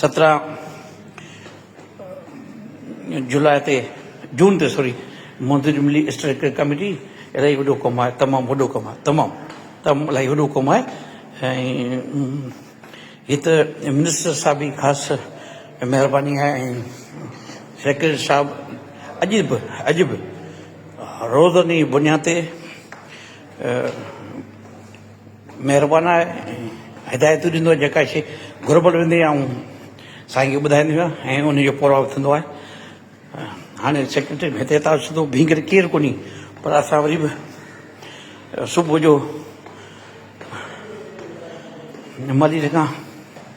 سترهن جولاء تي جون تي سوري منظوري ملي اسٽريٽڪ ڪميٽي الاهي وڏو ڪم آهي تمام وڏو ڪم آهي تمام تمام الاهي وڏو ڪم آهي ۽ هي ته منسٽر صاحب جي خاص مهرباني آهي ۽ سيڪريٽري صاحب اڄ به اڄ به روزاني بنياد تي مهربان آهي ۽ هدايتون ڏيندو آهي جيڪا شيء گهربل هوندي آهي اهو سائين کي ٻڌائيندو آهي ۽ ان جو پورو ٿيندو آهي هاڻي سيڪريٽري هتي اتا سڌو بيهي ڪري ڪير ڪونهي پر اسان وري به صبح جو ملير کان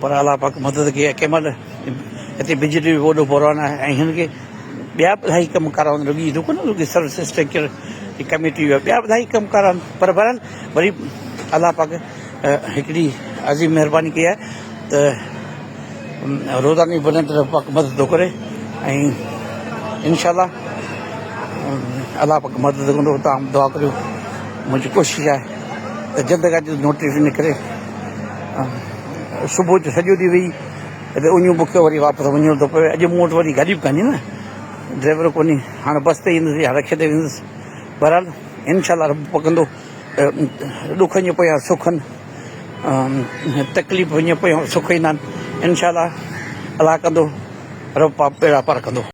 پر الله پاڪ مدد ڪئي ۽ ڪنهن مهل هتي بجلي به وڏو بحران آهي ۽ هن کي ٻيا به الاهي ڪم ڪارا هوندا رڳي رڳو نه رڳي سروس اسٽرڪچر جي ڪميٽي هئا ٻيا به الاهي ڪم ڪارا آهن پر بهرحال وري الله پاڪ هڪڙي عظيم مهرباني ڪئي آهي ته روزاني بلند رب پاڪ مدد ٿو ڪري ۽ انشاء الله الله پاڪ مدد ڪندو تمام دعا ڪريو منهنجي ڪوشش آهي ته جلد کان جلد نوٽيس نڪري صبح جو سڄو ڏينهن ويهي ته اڃو بکيو وري واپس وڃڻو ٿو پوي اڄ مون وٽ وري گاڏي به ڪانهي نه ڊرائيور ڪونهي هاڻي بس تي ايندس يا رڪشي تي ويندس بهرحال انشاء الله رب پڪندو ڏکن جي پويان سک آهن تڪليفن جي پويان سک ايندا آهن انشاء الله الله ڪندو رب پاپ پيڙا پار ڪندو